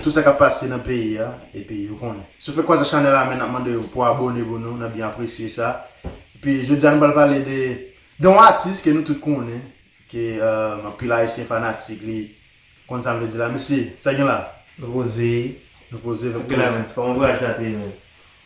Tout sa kap pase nan peyi a epi yo konnen. Sou fè kwaza chanèl la men nap mande yo pou abone pou nou nap byen apresye sa. Epi jodia nou pral pale de de yon atis ke nou tout konnen ke anpil ayisyen fanatik li konn sam vle di la mesye sa gen la. Nou poze nou poze nou poze. Gèlè men se pa yon vwayaj la te ye menm.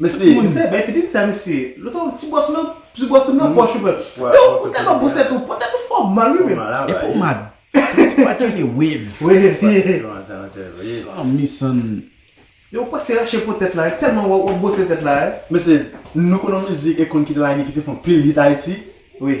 Mesi moun. Misye bay pitit sa mesye. Lòt fwa ti bòs nan ti bòs nan pòch ou pran. Yow ou tèlman bon sèt ou pran tèt ou fòmal wi menn. E pomad. Tout ti pat rele wave. Wave. San mi san. Yow ou pase rache po tèt la tèlman wap bwose tèt la. Mesye nou konn yon mizik e konn ki te lage ki te fon pil hit ayiti. Wi.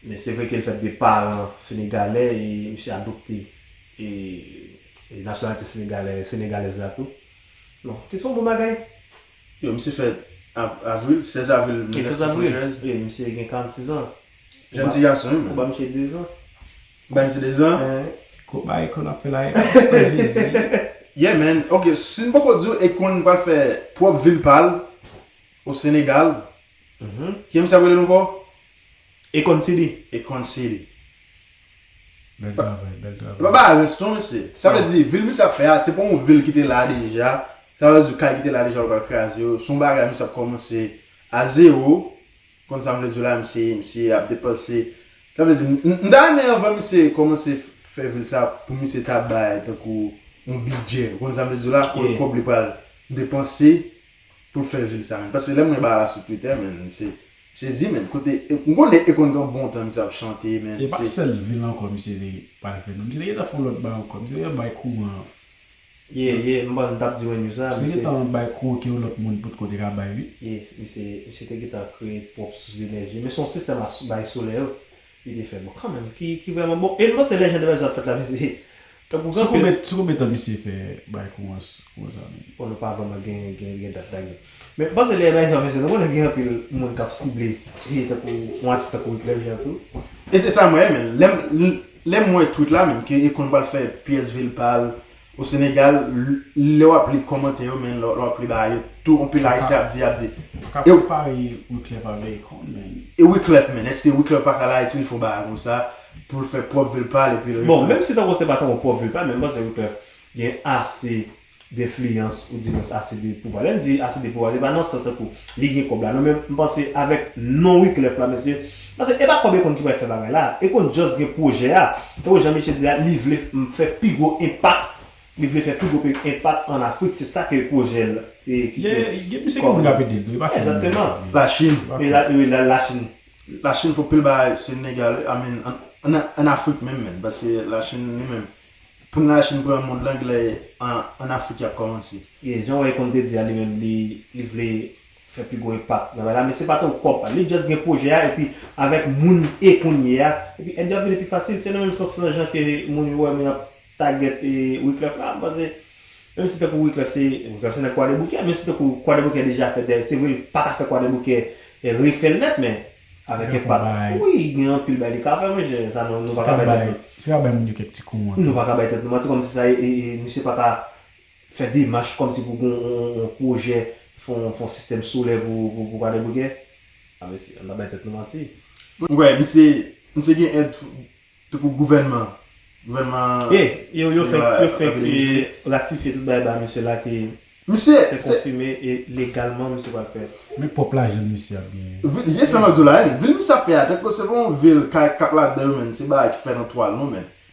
Men se vre ke l fèt de paran senegalè e misye adopte nasyonalite senegalèz la tou. Donk, ki se yon bon bagay. Yo, misye fèt avril, 16 avril 1973. Wi, misye gen 46 an. Jenn ti gason wi menm. Ou ba misye 2 zan. Ou ba misye 2 zan? Eeh. Gwo bagay konn ap fè la e. Oh Jezi. Yeah man, ok, si m poko di w Akon pral fè pwòp vil pa l o Senegal. Ki misye ap rele l ankò? E konn si li. E konn si li. Bèl travay, bèl travay. E pa bagay rans non mesye. Sa vle di vil misye ap fè a se pa yon vil ki te la deja. Sa vle di kay ki te la deja yo pral kraze yo. Se yon bagay misye ap kòmanse a zewo. Konn sa m vle di w la misye. Misye ap depanse. Sa vle di m ta renmen anvan misye kòmanse fè vil sa pou misye ta bay tankou yon bidjè. Ou konn sa m vle di w la? Konn kòb li pral depanse Pou fè vil sa menm. Paske lè mwen ba la sou twitter menn m se sezi menn kote m konnen e konn gen bon tan misye ap chante menn se. E pa sèl vil ankò misye te pral fè non misye te gentan fè yon lòt bagay ankò misye te gentan bay kouran an. Yeah yeah m pann m tap di mwen news la misye. Misye te gentan bay kouran ke yon lòt moun potko te ka bay wi. Yeah misye te gentan kreye pwòp sous denèji men se yon sistèm a bay solèy wi Li te fè bon kanmenm ki vrèman bon. E m panse lè jan de bagay sa ap fèt la men se tankou gen anpil. Sou konbyen tan misye fè bay kou an sa menm? Bon nou pa vrèman gen dat la egzanp. Men m panse lè bagay sa ap fèt se nou konnen gen anpil moun k ap sible tankou yon atis tankou Wyclef Jean tou. E se sa mwen renmen. Lè m wè tweet la menm ke Akon pral fè pyès vil pa l, O Senegal lè wap li kòmantè yo men lè wap li bagay yo tou anpil ayisyen ap di yap di. Ou ka konpare Wiclef avè Akon men. E Wiclef menn eske Wiclef pa ka al Ayiti li fon bagay konsa poul fè pwòp vil pal epi reprann. Bon menm si tankou se pa tankou pwòp vil pal men mpanse Wiclef gen ase denfliyans ou di mwens ase de pouvwa lèn di ase de pouvwa se pa nan sans tankou li gen kòb la non men mpanse avèk non Wiclef la mesye Paske epa kòb ekon ki pral fè bagay la, ekon just gen pwojè a, tankou jan misye di la li vle fè pi gwo enpak, li vle fè pi gwo enpak an Afrik, se sa ke pwojè l e ki gen kòb. Gen misye gen moun kap ede l tou, epa sèl misye. La Chine. Wi la Chine. La Chine fè pil bagay sou inegal, I mean an Afrik menm menm, paske la Chine li menm, pou la Chine pran mond lan genlè an Afrik yap kòmanse. Jan ekon te di a li menm li vle fè pi gwo enpak nan bagay la men se pa te yon kòb pal li just gen pwojè a epi avèk moun e kounye a epi èd yo ap vini pi fasil se nan menm sans lan jan ke moun yo wè moun ap tagèt e Wiclef la m panse menm si tankou Wiclef se Wiclef se nèg kwadèboukè men si tankou kwadèboukè deja fè dèy se vre li paka fè kwadèboukè refèl nèt men avèk enpak wi gen anpil bagay li ka fè mon chè sa nou nou paka bay tèt nou si ka bay moun yo kèk ti kou an tou nou paka bay tèt nou manti kòm si sa e e misye paka fè demach kòmsi pou gen yon pwojè fon fon sistèm solè pou Vale Brikè a mesye ann pa bay tèt nou manti m kwè misye misye gen èd tankou gouvènman gouvènman e yo yo fèk yo fèk ratifye tout bagay ba misye la ke misye se konfime e legalman misye pral fè men pwòp lajan misye ap genyen wi e sa map diw la vil misye ap fè a tankou se pa yon vil kay kap ladan yo menm se bagay ki fè nan twal non menm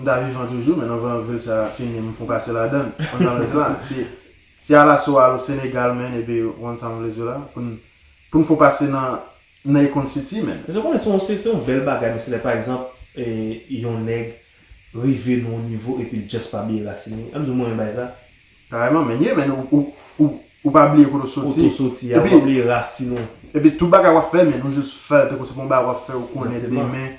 M ta vivan toujou men nan van vil sa fini m foun pase ladann konn sa m vle di la si si alaso al o senegal menn epi ou konn sa m vle di w la poun poun foun pase nan nan econ city menn. Eske w konnen se yon se yon bèl bagay men se lè pa egzanp yon nèg rive nan yon nivo epi l just pa bliye rasin li an m di w mwen renmen bagay sa. Kareman menn ye menn ou ou ou pa bliye kote w soti kote w soti a ou pa bliye rasin ou epi tout bagay wap fè menn ou jus fèl tankou se pa yon bagay wap fè ou konnen demen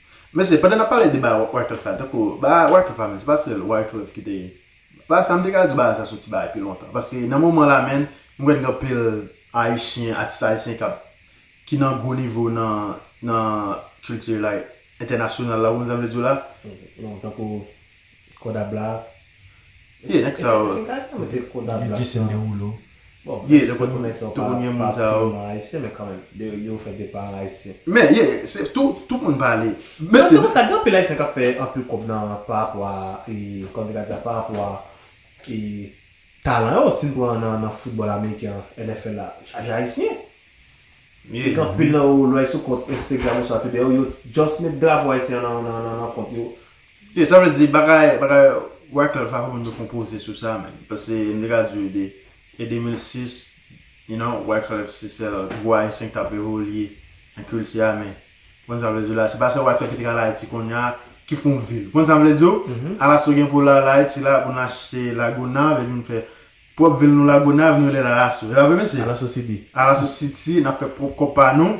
Mesye, pandan nap pale de bagay Wyclef la, tankou bagay Wyclef la menm, se pa sèl Wyclef ki te, bagay sa, m te ka di bagay sa soti bagay pi lontan, paske nan moman la menn, m kwè gen anpil Ayisyen, atis Ayisyen kap, ki nan gwo nivo nan, nan kilti like, entènasyonal la, ou konprann sa m vle di w la? Tankou. Kodab la. Yeah nèg sa yo. E se kay la mete kodab la. Jason Derulo. Bon menm si tout moun nèg sa yo pa purman ayisyen men kanmenm yo fè de paran ayisyen. Men yeah se tou tout moun pa ale. Men se konsa gen anpil ayisyen kap fè anpil kòb nan parapò a kòman te ka di a parapò a talan yo si n pran nan foutbòl ameriken an NFL la yo chaje ayisyen. Yeah. Gen anpil nan yo lè sou kont Instagram oswa Twitter yo yo just met drapo ayisyen an nan kont yo Yo sa vle di bagay bagay Wyclef a fòk nou fon poze sou sa menn pase m te ka di w de e 2006 you know Wyclef se sèl gwo ayisyen ki tap evolye nan kilti a men ou konn sa m vle di w la se pa sèl Wyclef ki te ka al Ayiti konnya ki fon vil ou konn sa m vle di w ala so gen pou l al Ayiti la pou n achte Lagonav epi n fè pwòp vil nou Lagonav nou rele l Alaso e pa vre mesye Alaso City Alaso City n ap fè pwòp kòb pa nou.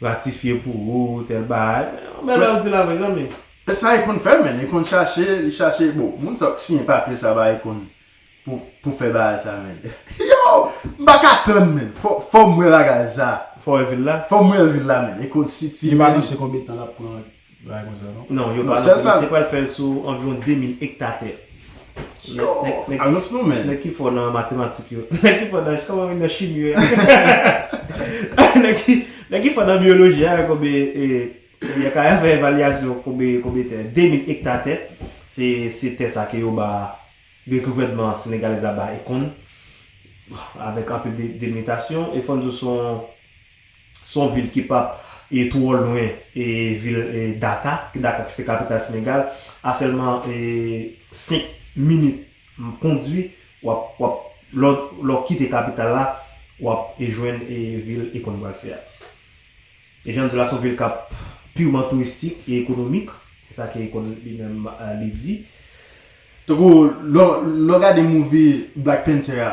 Ratifye pou ou tèl bagay. Men yon bèl bagay ou di la vre zanmi. Sa Akon fè menn, Akon chache, li chache bon, moun sa yo k siyen papye sa ba Akon pou pou fè bagay sa menn. Yow! M pa ka tann menn. Fò m wè bagay sa. Fò wè vil la? Fò m wè vil la menn. Akon City menn. Li pa anonse konbyen tan l ap pran. Bagay konsa non. Non, yo pa non. Misye pral fèl sou anviwon 2000 ekta tè. Yo! Ajans nou men. Nèg ki fò nan matematik yo. Nèg ki fò nan, kòman nan chimi yo. Nèg ki fò nan biyoloji a, konbe e, yo ka fè evalyasyon konbe, konbe tè. 2000 ekta tè, se, se tè sa ke yo ba, ke gouvènman senegalèz la ba Ekon, avèk anpil delimitasyon, e fòn di w son, Se yon vil ki pap twò lwen vil Daka, Daka ki se kapital Senegal, a sèlman 5 minit kondwi, lè w kite kapital la, w ap jwenn vil Ekon pral fè a. E jan m di w la, se yon vil k ap piwman touristik e ekonomik, se sa ke Ekon li menm li di. Tankou lè w gade movie Black Panther a.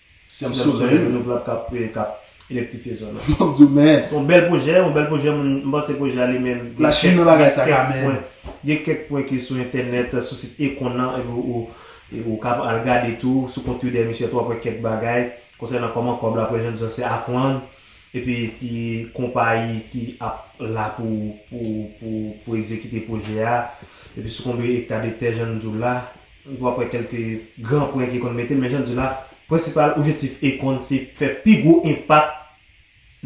Se yon sèl solèy renouvlab kap elektrifye zòn nan. Map diw men. Se yon bèl pwojè, yon bèl pwojè moun m panse pwojè a li menm. La chine nan bagay sa ka men. Gen kèk pwen ki sou entènèt sou sit Econ nan epi ou ka al gade tou sou kont Twitter misye tou wap wè kèk bagay konsènan kòman kòb la pral jwenn se ak lang epi ki konpayi ki ap la pou ekzekite pwojè a epi sou konbe ekta de tè jan nou diw la. Ou ap wè kèlke gran pwen ki konn mete, men jan di la, prensipal objektif Akon se fè pi gwo enpak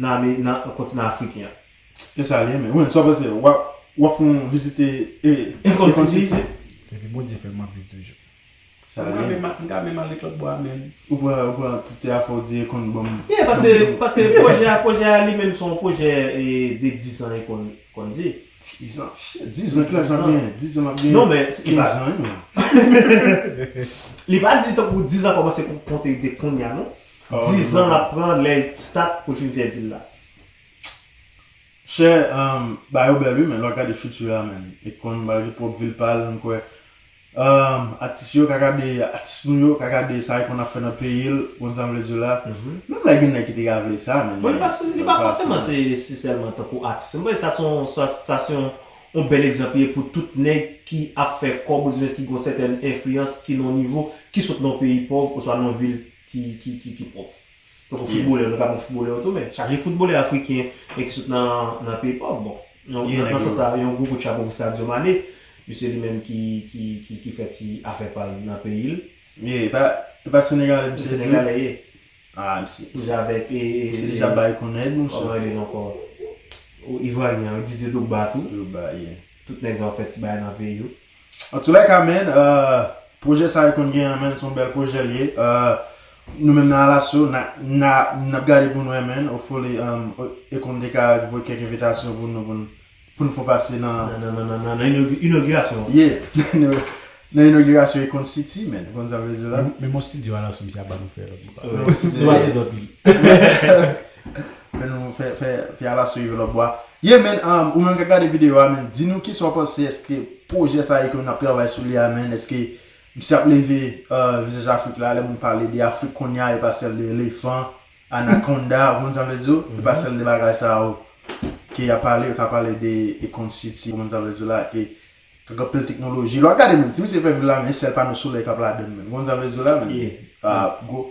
nan nan kontinan afriken an. E sa li renmen. Wens, sa w panse? W ap w ap fon vizite Akon City? Depi Bondye fè m ap viv toujou. Sa li renmen. M ka menm ale lòt bò a menm. Ou pran ou pran tout ti afè w di Akon banm. Yeah, pase pase pwojè a pwojè a li menm se yon pwojè de 10 an Akon. Konn di. Dizan. Shit. Dizan ki lajan ap genyen. Dizan map genyen. Non men. Kenz an yon. Li pa di tankou dizan kòmanse pou konte li te kounye a non. Dizan lap pran lè li start pou l fin fè vi l la. Chè. Bayo bèl wi men lè wap gade future a men. Li konn bal gen pwòp vil pa l. M kwè. Atis yo ka gade atis nou yo ka gade sa li konn ap fè nan peyi l konn sa m vle di w la menm lè gen nèg ki te ka vle sa men bon li pa fòseman se si sèlman tankou atis m panse sa se yon sa se yon bèl egzanp li ye pou tout nèg ki ap fè kòb ouzwen ki gon sètèn enfliyans ki nan yon nivo ki sot nan yon peyi pòv oswa nan yon vil ki pòv. Tankou foutbolè, nou ka pran foutbolè yo tou men, chaje foutbolè afriken e ki sot nan peyi pòv bon. Nan sans sa, yon gwo kout chapo pou Sadio Mané, misye li menm ki fè ti afè pa l nan peyi l. Ye, e pa senegalè misye di? Senegalè ye. A, misye. Misye avèk e. Misye deja bay konnen ed mouche. Kòman e rele l ankò? Ivaryen an, Didier Drogba tou. Drogba, ye. Tout nèg sa yo fè ti bagay nan peyi yo. Antoulèka menn, pwojè sa yo konn gen an menn, son bèl pwojè l ye. Nou menm nan Alasyo, n ap gade pou n wè menn, hopefully Akon te ka voye kèk envitasyon pou nou pou n fon pase nan. Nan inogirasyon an. Yeah, nan inogirasyon Akon City menn, ou konn sa m vle di la. Menm yon studio Alasyo misye ap ba nou fè lòt bò. Nou pa bezwen anpil. Fè nou fè fè fè ala sou Yve Lòbwa. Yeah man um ou menm kap gade video a man di nou kisa ou panse eske pwojè sa yo ke nou ap travay sou li a man eske misye ap leve uh vizaj afrik la lè moun pale de afrik konnya e pa sèl de elefan anakonda ou konprann sa mvle di yo e pa sèl de bagay sa yo ke yap pale yo ka pale de ekon siti ou konprann sa mvle di yo la ke ak anpil teknoloji lè wap gade man si misye fè vil la man e sèl pano solèy kap ladann man ou konprann sa mvle di yo la man yeah ah gwo.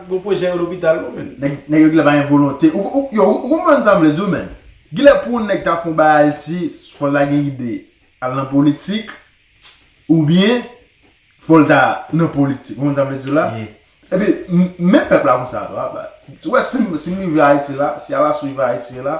Gon pwojè yon lopital non menn. Nèg yo gilè pa gen volonte. Yo ou konprann sa vle di w menn. Gilè pou yon nèg ta fè yon bagay Ayiti fò l ta gen ide al nan politik oubyen fò l ta nan politik. Ou konprann sa m vle di w la? Epi menm pèp la konsa tou a. Ou wè si m rive Ayiti la, si alasou rive Ayiti la,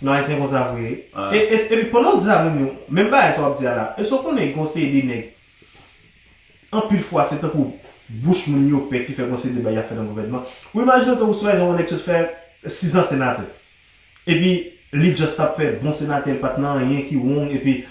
Nou ayisyen konsa vre wi. Epi pandan w di sa moun yo, menm bagay sa wap di a la, èske w konnen gen yon seri de nèg anpil fwa se tankou bouch moun yo pe ki fè gen yon seri de bagay yap fè nan gouvènman. Ou imajine w tankou swayizan yon nèg sot fè 6 an senatè. Epi li just tap fè bon senatè, li pat nan anyen ki wrong epi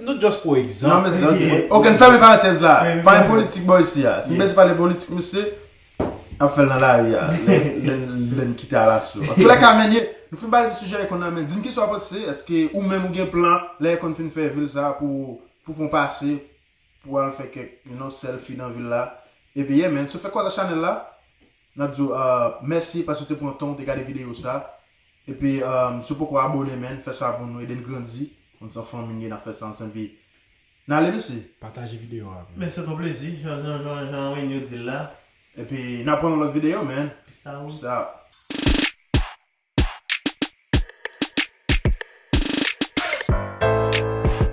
Nou just pou egzanp. Non mezi ki. Ok n fèmen parantèz la. Pa gen politik bò isi a. Si n bese pale politik mesye. N ap fèl nan lari a. Lè n kite alaso. An tou lè ka menye. Nou fin pale de sijè ekon nan men. Di n kisa w ap panse. Eske ou menm ou gen plan. Lè ekon fin fè vil sa a pou. Pou fon pase. Pou al fè kèk you know selfie nan vil la. Ebyen men. Sou fè kòz ak chanèl la. Nap di w mèsi paske w te pran tan w te gade videyo sa. Epi si w poko abone menn fè sa pou nou ede n grandi. Konn se yon fanmi n ye nap fè sa ansanm epi n ale mesye. Pataje videyo a. Men se t yon plezi jan Renyo di l la. Epi nap pran yon lòt videyo menn. Peace out.